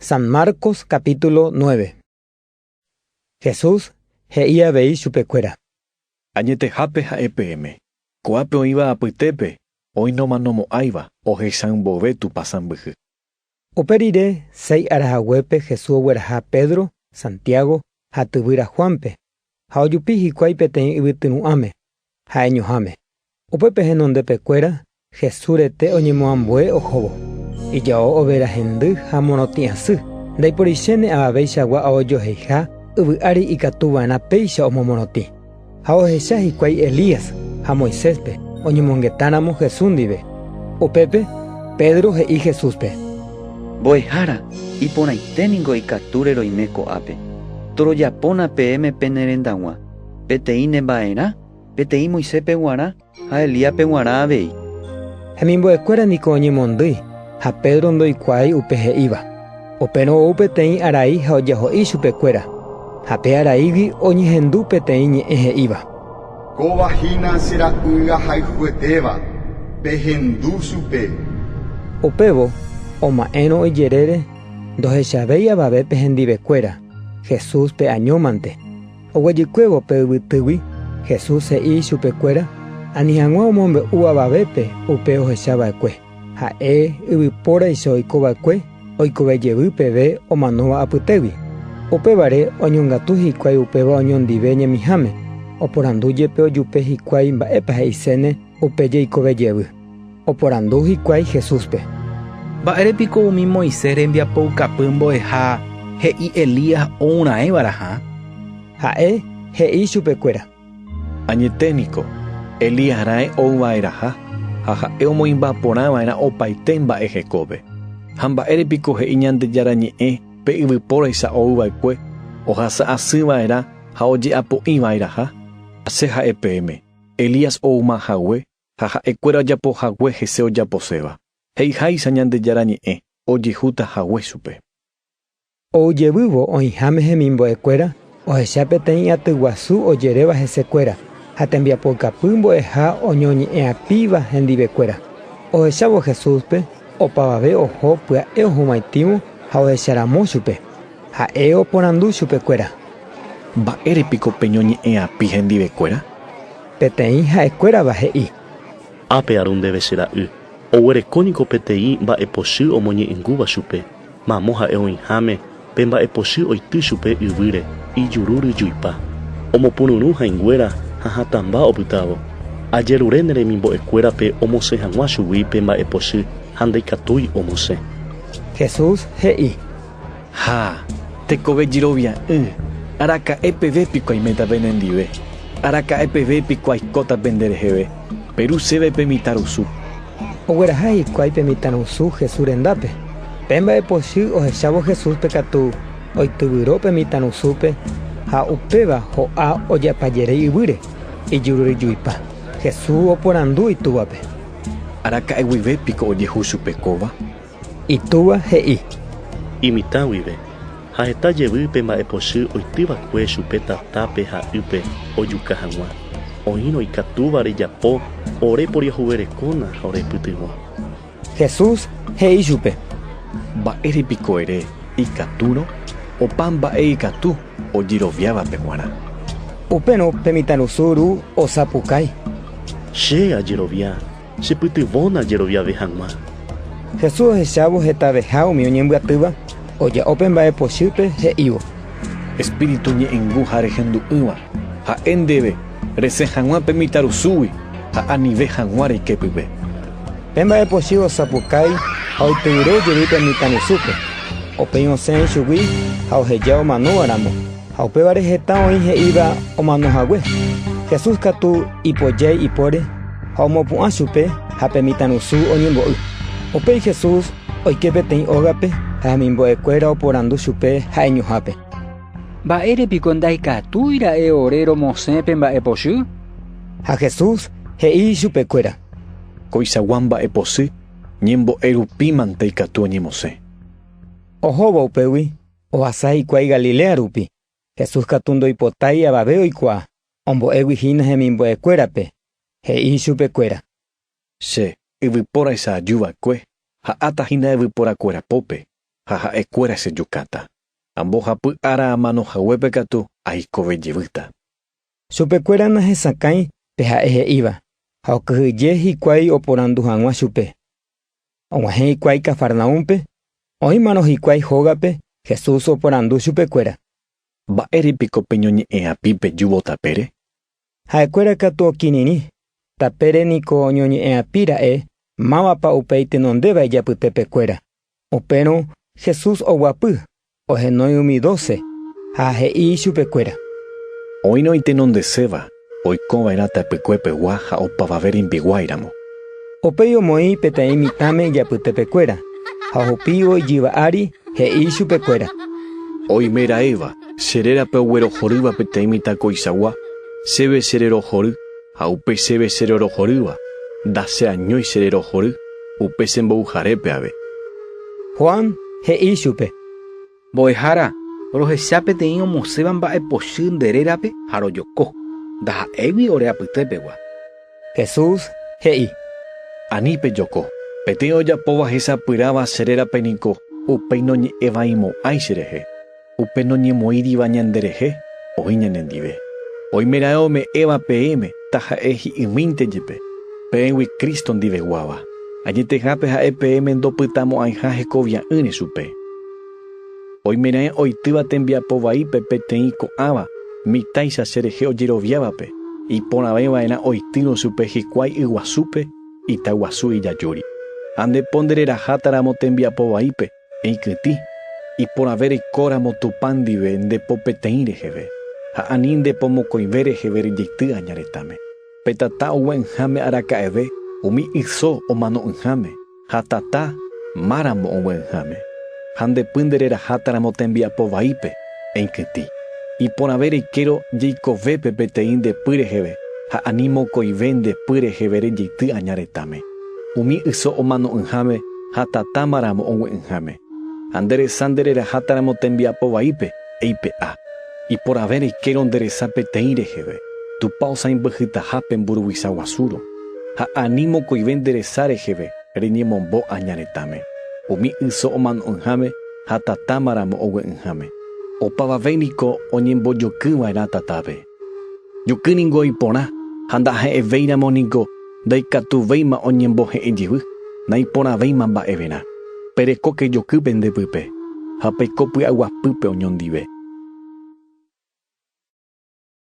San Marcos capítulo nueve. Jesús he'i avei chupekuéra. Añetehápe ha'e peẽme, ko'ápe oĩva apytépe oĩnoma nomo'ãiva ohechãi mboyve Tupã sãmbyhy. Upe rire seis ára haguépe Jesús ogueraha Pedro, Santiago ha tyvýra Juánpe, ha ojupi hikuái peteĩ yvytyru'ãme, ha'e ñuhãme. Upépe henondepekuéra Jesús rete oñemoambue ohóvo, ijao overa hendy ha morotĩ asy, ndaiporichéne avaveichagua aojoheiha yvy ári ikatu va'erã péicha omomorotĩ. Ha ohecha hikuái Elías ha Moiséspe oñemongetáramo Jesús ndive. Upépe Pedro he'i Jesúspe. Mbo'ehára, iporãite ningo ikatúre roime ko'ápe. Torojapóna peẽme pene rendag̃ua, peteĩ ne mba'erã, peteĩ Moisépe g̃uarã ha Elíape g̃uarã avei. Hemimbo'ekuéra niko oñemondýi, ha Pedro ndoikuaái upe he'íva. Upérõ ou peteĩ arai ha ojaho'i chupekuéra, ha pe araígui oñehendu peteĩ ñe'ẽ he'íva. Kóva hína che ra'y ahayhuetéva, pehendu chupe. Upévo oma'ẽrõ ijerére ndohechavéi avave pe hendivekuéra Jesús pe añómante. Oguejykuévo pe yvytýgui, Jesús he'i chupekuéra ani hag̃ua omombe'u avavépe upe ohechava'ekue. Ha'e yvypóraicha oiko va'ekue oikove jevy peve omanóva apytégui. Upévare oñongatu hikuái upéva oñondive ñemiháme, oporandu jepe ojupe hikuái mba'épa he'iséne upe jeikove jevy. Oporandu hikuái Jesúspe. Mba'ére piko umi Moisés rembiapoukapy mbo'eha he'i Elías ourãeva'erãha? Ha'e he'i chupekuéra. Añete niko, Elías raẽ ou va'erãha, ha ha'e omoĩmba porã va'erã opaite mba'e hekove. Ha mba'ére piko he'i Ñandejára Ñe'ẽ pe yvypóraicha ou va'ekue ohasa asy va'erã ha oje'apo'i va'erãha? Che ha'e peẽme, Elías ouma hague ha ha'e kuéra ojapo hague hese ojaposéva, he'iháicha Ñandejára Ñe'ẽ, ojehúta hague chupe. Ou jevývo oĩháme hemimbo'ekuéra ohecha peteĩ aty guasu ojeréva hesekuéra ha tembiapoukapy mbo'eha oñoñe'ẽ'apíva hendivekuéra. Ohechávo Jesúspe, opavave oho pya'e ohuvaitĩvo ha ohecharamo chupe. Ha'e oporandu chupekuéra. Mba'ére piko peñoñe'ẽ'api hendivekuéra? Peteĩ ha'ekuérava he'i. Ápe aru ndéve che ra'y. Oguereko niko peteĩ mba'epochy omoñe'ẽngúva chupe. Mamo ha'e oĩháme pe mba'epochy oity chupe yvýre, ijuru ryjuipa, omopururũ hãinguéra ha hatãmba opytávo. Ajerure ne remimbo'ekuérape omosẽ hag̃ua chugui pe mba'epochy ha ndaikatúi omosẽ. Jesús he'i. Ha, tekove jerovia'ỹ, araka'e peve piko aiméta penendive? Araka'e peve piko aikóta pendereheve? Peru chéve pe mitãrusu. Ogueraha hikuái pe mitãrusu Jesús rendápe. Pe mba'epochy ohechávo Jesúspe katu oityvyro pe mitãrusúpe ha upéva ho'a oje'apajerei yvýre, ijururyjuipa. Jesús oporandu itúvape. Araka'e guive piko ojehu chupe kóva? Itúva he'i. Imitã guive, ha heta jevy pe mba'epochy oity va'ekue chupe tatápe ha ýpe ojuka hag̃ua, oĩrõ ikatúva rejapo ore poriahuverekóna ha orepytyvõ. Jesús he'i chupe. Mba'ére piko ere ikatúrõ opa mba'e ikatu ojeroviávape g̃uarã? Upérõ pe mitãrusu ru osapukái. Che ajerovia. Chepytyvõna jeroviave hag̃ua. Jesús ohechávo hetaveha umi oñembyatýva, oja'o pe mba'e pochýpe, he'ívo. Espíritu ñe'ẽngu ha rehendu'ỹva, ha'e ndéve, Resẽ hag̃ua pe mitãrusúgui ha anive hag̃ua reike pype. Pe mba'e pochy osapukái ha oityvyro jevy pe mitãrusúpe, opeĩ osẽ ichugui ha oheja omanóva ramo. Ha upévare heta oĩ he'íva omano hague. Jesús katu ipojái ipóre ha omopu'ã chupe ha pe mitãrusu oñembo'y. Upéi Jesús oike peteĩ ógape ha hemimbo'ekuéra oporandu chupe ha'eñohápe: “¿Mba'ére piko ndaikatúi ra'e ore romosẽ pe mba'epochy?” Ha Jesús he'i chupekuéra: “Koichagua mba'epochy ñembo'e rupímante ikatu oñemosẽ.” Ohóvo upégui. Ohasa hikuái Galilea rupi, Jesús katu ndoipotái avave oikuaa, ombo'égui hína hemimbo'ekuérape, he'i ichupekuéra. Che yvypóraicha aju va'ekue, ha'áta hína yvyporakuéra pópe, ha ha'ekuéra chejukáta. Ambohapy ára amano haguépe katu aikove jevýta. Chupekuéra nahesakãi pe ha'e he'íva, ha okyhyje hikuái oporandu hag̃ua chupe. Og̃uahẽ hikuái Cafarnaúmpe, oĩmarõ hikuái hógape, Jesús oporandu chupekuéra. Mba'ére piko peñoñe'ẽ'api pe júvo tapére? Ha'ekuéra katu okirirĩ, tapére niko oñoñe'ẽ'api ra'e mávapa upéi tenondéva ijapytépekuéra. Upérõ Jesús oguapy, Ohenói umi doce ha he'i ichupekuéra. Oĩrõ itenondeséva oikova'erã tapykue pegua ha opavave rimbiguái ramo. Upéi omoĩ peteĩ mitãme ijapytepekuéra ha ohupívo ijyva ári, he'i ichupekuéra. Oime ra'éva, che rérape oguerohorýva peteĩ mitã koichagua, chéve che rerohory. Ha upe chéve che rorohorýva, nda che añói che rerohory upe che mbovyharépe ave. Juan he'i ichupe. Mbo'ehára, rohecha peteĩ omosẽva mba'e pochy nde rérape ha rojoko, ndaha'égui ore apyte pegua. Jesús he'i. Ani pejoko. Peteĩ ojapóva hesapyráva che rérape niko upéi noñe'ẽvaimo'ãi che rehe. Upe noñemoĩriva ñanderehe oĩ ñanendive. Oimeraẽ ome'ẽva peẽme taha'e hi'ymínte jepe, peẽgui Cristo ndiveguáva, añetehápe ha'e peẽme ndopytamo'ãiha hekovia'ỹre chupe. Oimeraẽ oitýva tembiapo vaípe peteĩ ko'ãva mitáicha cherehe ojeroviávape, iporãveva'erã oitýrõ chupe hikuái yguasúpe itaguasu ijajúri. Ande po ndererahátaramo tembiapo vaípe, Eikyty, iporãve reikóramo Tupã ndive nde po peteĩ reheve, ha ani nde po mokõive reheve rejeity aña retãme. Pe tata ogue'ỹháme araka'eve umi yso omano'ỹháme, ha tata, máramo ogue'ỹháme. Ha nde py nde rerahátaramo tembiapo vaípe, eikyty. Iporãve reikérõ jeikovépe peteĩ nde py reheve, ha ani mokõive nde py reheve rejeity aña retãme. Umi yso omano'ỹháme ha tatáma ramo ogue'ỹháme. Ha nde resa nde reraháta ramo tembiapo vaípe, eipe'a. Iporãve reikérõ nde resa peteĩ reheve, Tupã osãimbyhytaha pe mburuvicha guasúrõ. Ha ani mokõive nde resa reheve reñemombo aña retãme, umi yso omano'ỹháme ha tatáma ramo ogue'ỹháme. Opavave niko oñembojokýva'erã tatápe. Juky ningo iporã, ha ndaha'evéiramo ningo ndaikatuvéima oñembohe'ẽ jevy, naiporãvéima mba'everã. Perekóke joky pende pype, ha peiko py'aguapýpe oñondive.